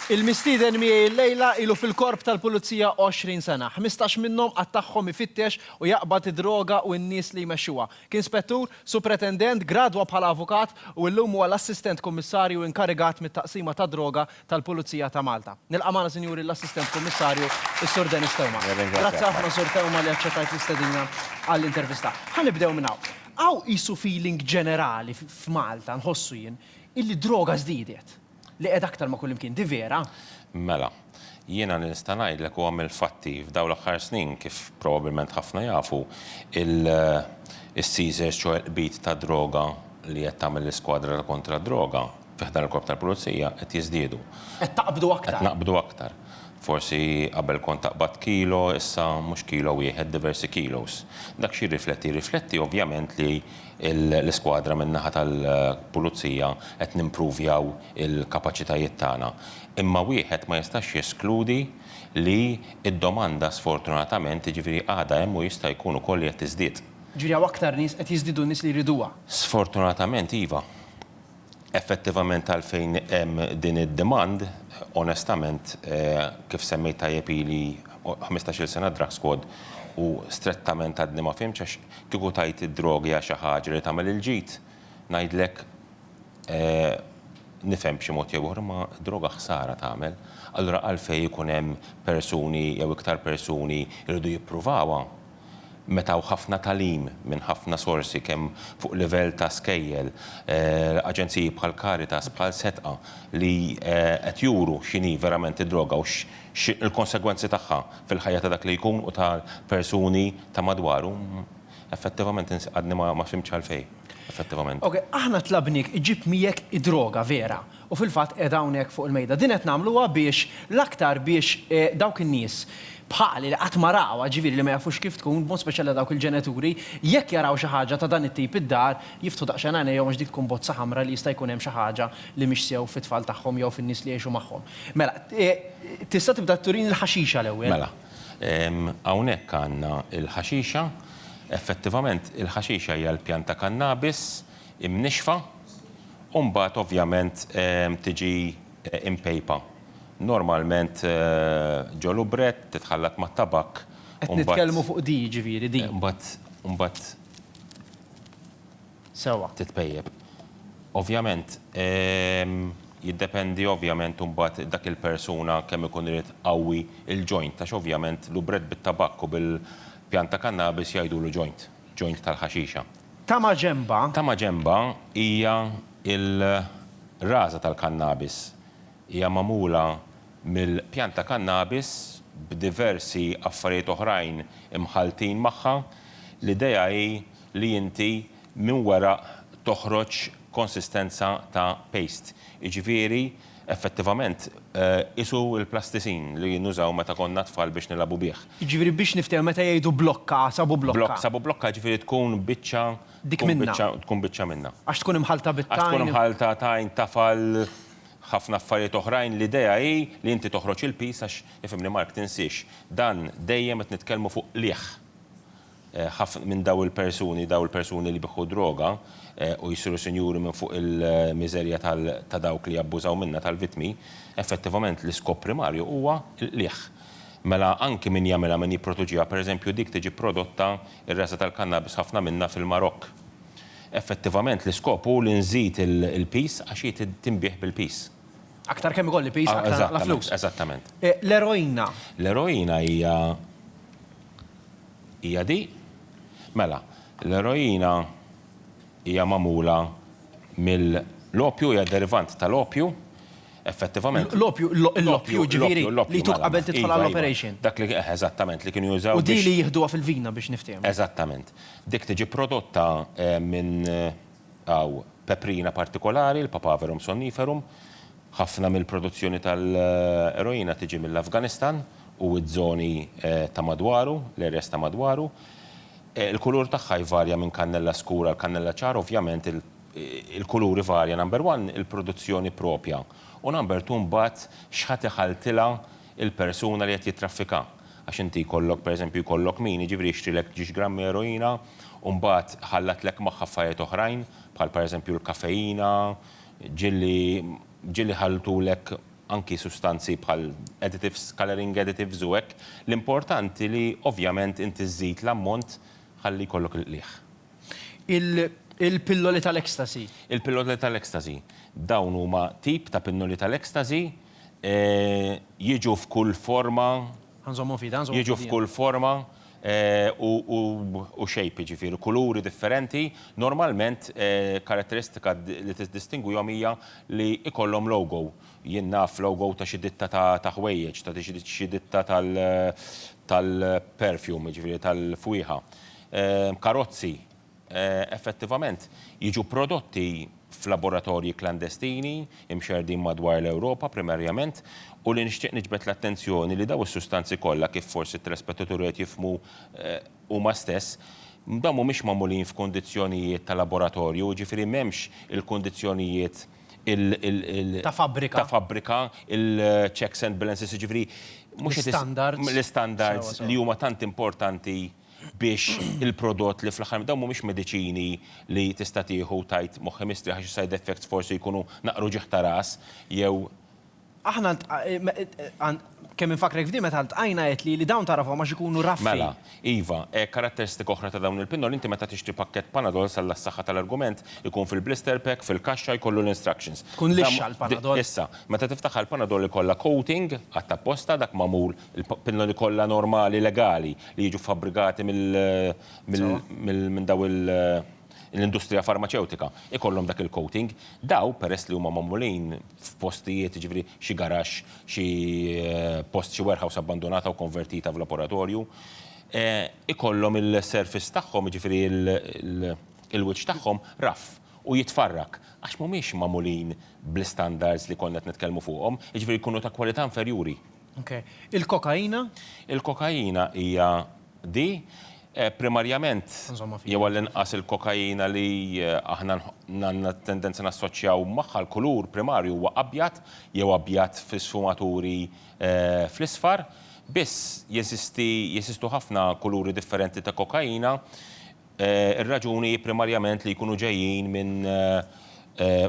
Il-mistieden miegħi llejla ilu fil-Korp tal-Pulizija 20 sena. Ħmistax minnhom għadd tagħhom ifittex u jaqbad id-droga u n-nies li jmexxuha. Kien Spettur, Supretendent, gradwa bħala Avukat u llum huwa l-Assistent Kummissarju inkarigat mit-Taqsima tad-Droga tal-Pulizija ta' Malta. Nilqa' magħna, Sinjuri, l-Assistent Kummissarju, is-Sur Denis Theuma. Grazzi ħafna, Sur Theuma, li aċċettajt l-istedina għall-intervista. Ħa nibdew minn hawn. Hawn qisu feeling ġenerali f'Malta, nħossu jien, illi d-droga żdiedet. Li qiegħda aktar ma' kullimkien. Di vera? Mela, jiena li nista' ngħidlek huwa mill-fatti, f'dawn l-aħħar snin, kif probabbilment ħafna jafu, il-seizures, ċoħe l-qbid tad-droga li qed tagħmel l-iskwadra ta' kontra d-droga, fi ħdan il-Korp tal-Pulizija qed jiżdiedu. Qed taqbdu aktar. Qed naqbdu aktar. Forsi qabel kont taqbad kilo, issa mhux kilo wieħed, diversi kilos. Dak x'jirrifletti? Jirrifletti ovvjament li l-iskwadra min-naħa tal-Pulizija qed nimpruvjaw il-kapaċitajiet tagħna. Imma wieħed ma jistax jeskludi li d-domanda sfortunatament, jiġifieri għadha hemm u jista' jkun ukoll li qed tiżdied. Jiġifieri hawn aktar nies, qed jiżdiedu n-nies li jriduha. Sfortunatament iva. Effettivament għalfejn hemm din id-demand, onestament, kif semmejt tajjeb ili ħmistax-il sena drug squad u strettament għadni ma fhimtx għax kieku tgħid id-droga hija xi ħaġa li tagħmel il-ġid, ngħidlek nifhem b'xi mod jew ieħor imma d-droga ħsara tagħmel. Allura għalfejn ikun hemm persuni jew iktar persuni jridu jippruvawha? meta hawn ħafna tagħlim minn ħafna sorsi kemm fuq livell ta' skejjel, aġenziji bħal Caritas, bħal Setqa li qed juru x'inhi verament id-droga u x'il-konsegwenzi tagħha fil-ħajja ta' dak li jkun u tal-persuni ta' madwaru, effettivament int għadni ma fhimtx għalfejn, effettivament. Ok, aħna tlabniek iġib miegħek id-droga vera, U fil-fatt qiegħda hawnhekk fuq il-mejda. Din qed nagħmluha biex l-aktar biex dawk in-nies bħali li qatt ma rawha, jiġifieri li ma jafux kif tkun, b'mod speċjali għal dawk il-ġenituri, jekk jaraw xi ħaġa ta' dan it-tip id-dar, jiftħu daqsxejn għajnejhom għax dik tkun bozza ħamra li jista' jkun hemm xi ħaġa li mhix sew fit-tfal tagħhom jew fin-nies li jgħixu magħhom. Mela, tista' tibda turini l-ħaxixa l-ewwel? Mela. Hawnhekk għandna l-ħaxixa. Effettivament, il-ħaxixa hija l-pjanta kannabis imnixxfa u mbagħad ovvjament tiġi impejpa. Normalment ġo lubrett, titħallat mat-tabakk u mbagħad. Qed nitkellmu fuq di jiġifieri di. U mbagħad. Sewwa. Titpejjep. Ovvjament jiddependi ovvjament mbagħad dak il-persuna kemm ikun irid iqawwi l-joint għax ovvjament lubrett bit-tabakk u bil-pjanta kannabis jgħidulu joint. joint tal-ħaxixa. Tama ġenba. Tama ġenba hija l-raża tal-kannabis. Hija magħmula mill-pjant ta' kannabis b'diversi affarijiet oħrajn imħalltin magħha. L-idea hi li inti minn weraq toħroġ konsistenza ta' paste. Jiġifieri Effettivament, qisu l-plastisin li nużaw meta konna tfal biex nilagħbu bih. Jiġifieri biex niftehmu meta jgħidu blokka, sabu blokka. Blokk, sabu blokka, jiġifieri tkun biċċa, Dik tkun minnha. biċċa, tkun biċċa minnha. Għax tkun imħallta bit-tajn. Għax tkun imħallta tajn, tafal, ħafna affarijiet oħrajn. L-idea hi li inti toħroġ il-piż għax, ifhimni Mark, tinsiex, dan dejjem qed nitkellmu fuq qligħ. Ħafna minn dawn il-persuni, dawn il-persuni li jbiħħu d-droga u jsiru sinjuri minn fuq il-miżerja ta' dawk li jabbużaw minnha, tal-vittmi, effettivament l-iskop primarju huwa l-qligħ. Mela anki min jagħmilha, min jipproduċiha, pereżempju dik tiġi prodotta, ir-resa tal-kannabis ħafna minnha fil-Marokk. Effettivament l-iskop hu li nżid il-piż għax hi tinbiegħ bil-piż. Aktar kemm ikolli piż, aktar nagħmilha flus. Eżattament. L-eroina? L-eroina hija. Hija di? Mela, l-eroina hija magħmula mill-opju, hija derivant tal-opju, effettivament. L-opju, l-opju, jiġifieri li jtuk qabel tidħol għall-operation. Dak li, eħe, eżattament, li kienu jużaw. U di li jieħduha fil-vina biex niftehmu. Eżattament. Dik tiġi prodotta minn Hawn peprina partikolari, l-Papaverum somniferum. Ħafna mill-produzzjoni tal-eroina tiġi mill-Afganistan u ż-żoni ta' madwaru, l-areas ta' madwaru. Il-kulur tagħha jvarja minn kannella skur għal kannella ċar, ovvjament il-kulur ivarja number one il-produzzjoni proprja u number two mbagħad x'ħa tiħalltilha il-persuna li qed jittraffika. Għax inti jkollok, per eżempju, jkollok min, jiġifieri jixtrilek ġiex grammi eroina u mbagħad iħallatlek magħha affarijiet oħrajn, bħal per eżempju l-kafeina, ġieli, ġieli jħalltulek anki sustanzi bħal additives, colouring additives u hekk. L-importanti li ovvjament inti żżid l-ammont ħalli jkollok il-qligħ. Il-pilloli tal-ecstasy? Il-pilloli tal-ecstasy. Dawn huma tip ta' pinnoli tal-ecstasy. Jiġu f'kull forma. Ħa nżommhom f'idha, ħa nżommhom f'idha. Jiġu f'kull forma u shape, jiġifieri kuluri differenti. Normalment karatteristika li tiddistingwihom hija li jkollhom logo. Jien naf logo ta' xi ditta ta' ħwejjeġ, ta' xi ditta tal-perfume, jiġifieri tal-fwieħa. Karozzi. effettivament jiġu prodotti f'laboratorji klandestini mxerrdin madwar l-Ewropa primarjament u li nixtieq niġbed l-attenzjoni li dawn is-sustanzi kollha kif forsi t-telespettaturi qed jifhmu huma stess, dawn mhumiex magħmulin f'kundizzjonijiet ta' laboratorju, jiġifieri m'hemmx il-kundizzjonijiet ta' fabbrika, il-checks and balances, jiġifieri mhux l-istandards li huma tant importanti. biex il-prodott li fl-aħħar dawn mhumiex mediċini li tista' tieħu u tgħid moħħi mistrieħ għax is-side effects forsi jkunu naqra uġigħ ta' ras jew. Aħna kemm infakkrek f'din meta ltqajna għedtli li dawn tagħrafhom għax ikunu raffi. Mela, iva, karatteristika oħra ta' dawn il-pinnoli inti meta tixtri pakkett Panadol s'Alla s-saħħa tal-argument ikun fil-blister pack fil-kaxxa jkollu l-instructions. Tkun lixxa l-Panadol. Issa, meta tiftaħha l-Panadol ikollha coating għadd apposta dak magħmul il-pinnoli kollha normali legali li jiġu fabbrigati minn daw l-industrija farmaċewtika jkollhom dak il-coating. Daw peress li huma magħmulin f'postijiet, jiġifieri xi garaxx, xi post, xi warehouse abbandunata u konvertita f'laboratorju, ikollhom il-surface tagħhom, jiġifieri l-wiċċ tagħhom rough u jitfarrak għax mhumiex magħmulin bl-istandards li konna qed nitkellmu fuqhom, jiġifieri jkunu ta' kwalità inferjuri. Il-kokaina? Il-kokaina hija di, primarjament, jew għall-inqas il-kokaina li aħna għandna tendenza nassoċjaw magħha, l-kulur primarju huwa abjad jew abjad fi sfumaturi fl-isfar. Biss, jeżisti, jeżistu ħafna kuluri differenti ta' kokaina. Ir-raġuni hi primarjament li jkunu ġejjin minn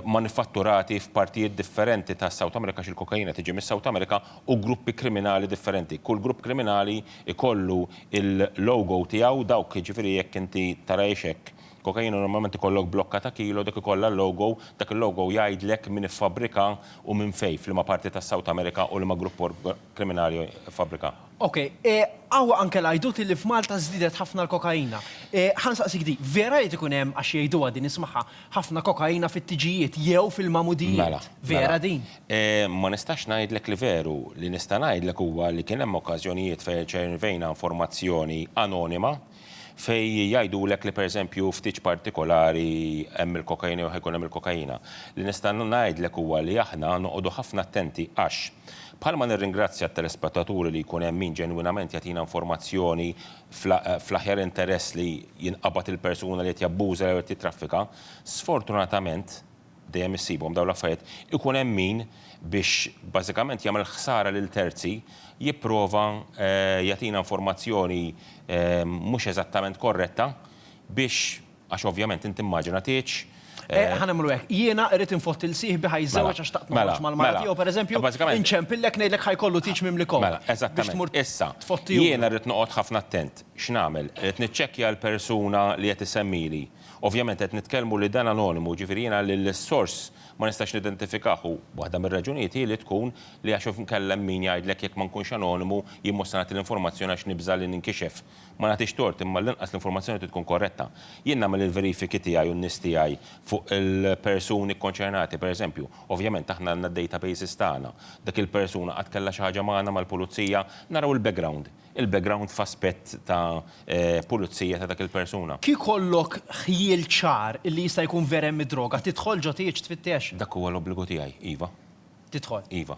manifatturati f'partijiet differenti tas-South America għax il-kokaina tiġi mis-South America u gruppi kriminali differenti. Kull grupp kriminali jkollu l-logo tiegħu, dawk jiġifieri jekk inti tara ixekk kokaina normalment ikollok blokka ta' kilo dik ikollha l-logo, dak il-logo jgħidlek min iffabbrika u minn fejn, f'liema parti tas-South America u liema grupp kriminali iffabbrikaha. Ok, hawn anke l-għajdut illi f'Malta żdiedet ħafna l-kokaina. Ħa nsaqsik di, vera li qed ikun hemm, għax jgħiduha din ismagħha, ħafna kokaina fit-tiġijiet jew fil-magħmudijiet? Vera din? Ma nistax ngħidlek li veru. Li nista' ngħidlek huwa li kien hemm okkażjonijiet fejn irċevejna informazzjoni anonima fejn jgħidulek li pereżempju f'tiġ partikolari hemm il-kokaina jew ħa jkun hemm il-kokaina. Li nista' ngħidlek huwa li aħna noqogħdu ħafna attenti għax, Bħalma nirringrazzja t-telespettaturi li jkun hemm min ġenwinament jagħtina informazzjoni fl-aħjar interess li jinqabad il-persuna li qed jabbuża jew qed jittraffika, sfortunatament, dejjem issibhom dawn l-affarijiet, ikun hemm min, biex bażikament jagħmel ħsara lil terzi, jipprova jagħtina informazzjoni mhux eżattament korretta biex, Għax ovvjament int immaġina tgħidx, Eh, ħa nagħmlu hekk. Jiena rrid infotti l sieħbi ħa jiżżewweġ mela, għax taqt mela, noħroġ mal-mara mela. tiegħu pereżempju, inċempillek ngħidlek ħa jkollu tiġ mimli kok. Mela, eżattament. Issa, jiena rrid noqgħod ħafna attent. X'nagħmel? Qed niċċekkja l-persuna li qed isemmili. Ovvjament qed nitkellmu li dan anonimu, ġifieri jiena li l-sors ma nistax nidentifikah u waħda mir-raġunijiet hi li tkun li għax nkellem min jgħidlek jekk ma nkunx anonimu jien mhux se nagħti l-informazzjoni għax nibża' li ninkixef. Ma nagħtix tort, imma għall-inqas l-informazzjoni trid tkun korretta. Jien nagħmel il-verifiki tiegħi u n-nies tiegħi fuq il-persuni kkonċernati, pereżempju. Ovvjament aħna għandna d-databases tagħna. Dik il-persuna qatt kellha xi ħaġa magħna, mal-pulizija? Naraw il-background. Il-background f'aspett ta' pulizija ta' dak il-persuna. Kif ikollok ħjiel ċar illi jista' jkun vera hemm id-droga, tidħol ġo tieġ tfittex? Dak huwa l-obbligu tiegħi, iva. tidħol. Iva.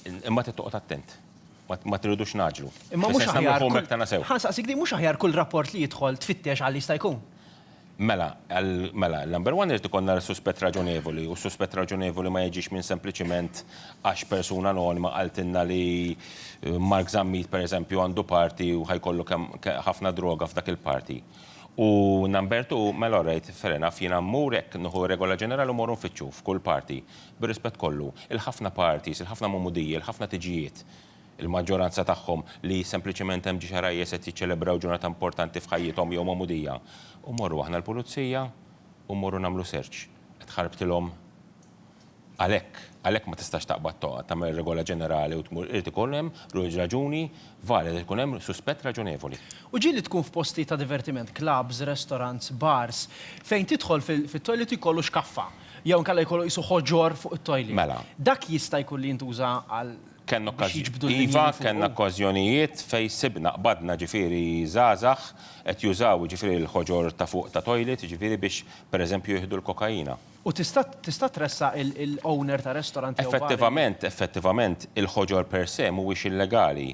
Imma trid toqgħod attent. Ma tridux nagħġlu. Imma mhux aħjar. Ħa saqsik din mhux aħjar kull rapport li jidħol tfittex għal jista' jkun. Mela, mela, number one irid ikollna suspett raġonevoli u suspett raġonevoli ma jiġix minn sempliċiment għax persuna anonima qaltilna li Mark Zammit pereżempju għandu party u ħajkollu ħafna droga f'dak il-party. U number two, mela alright, fair enough, jiena mmur hekk nieħu regola ġenerali u mmorru nfittxu f'kull party. Bir-rispett kollu, il-ħafna parties, il-ħafna Magħmudija, il-ħafna tiġijiet, il-maġġoranza tagħhom li sempliċement hemm xi ħrajjes qed jiċċelebraw ġurnata importanti f'ħajjithom jew Magħmudija, u mmorru aħna l-Pulizija u mmorru nagħmlu search. Qed ħarbtilhom għalhekk. Għalhekk ma tistax taqbad toqgħod tagħmel regola ġenerali u tmur, irid ikun hemm raġuni valida, irid ikun hemm suspett raġonevoli. U ġieli tkun f'postijiet ta' divertiment, clubs, restaurants, bars, fejn tidħol fit-toilet jkollu xkaffa. Jew inkella jkollu qisu ħoġor fuq it-toilet. Mela. Dak jista' jkun li jintuża għal biex jiġbdu l-linji minn fuq. Iva, kellna okkażjonijiet fejn sibna, qbadna ġifieri żgħażagħ qed jużaw jiġifieri l-ħoġor ta' fuq ta' toilet jiġifieri biex pereżempju jieħdu l-kokaina. U tista' tista' tressaq il-owner ta' restorant jew bar li. Effettivament, effettivament, il-ħoġor per se mhuwiex illegali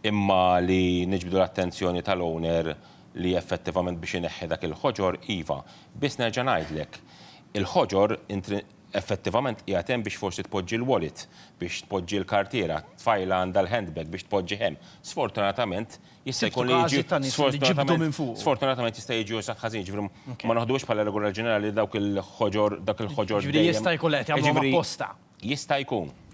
imma li niġbdu l-attenzjoni tal-owner li effettivament biex ineħħi dak il-ħoġor, iva, biss nerġa' ngħidlek, il-ħoġor effettivament qiegħed hemm biex forsi tpoġġi l-wallet, biex tpoġġi l-kartiera, tfajla għandha l-handbag biex tpoġġi hemm. Sfortunatament jista' jkun li jiġi sfortunatament sfortunatament jista' jiġi użat ħażin, jiġifieri ma naħduhiex bħala regola ġenerali li dawk il-ħoġor dak il-ħoġor dejjem Jiġifieri jista' jkun li qed jagħmluhom apposta. Jista' jkun,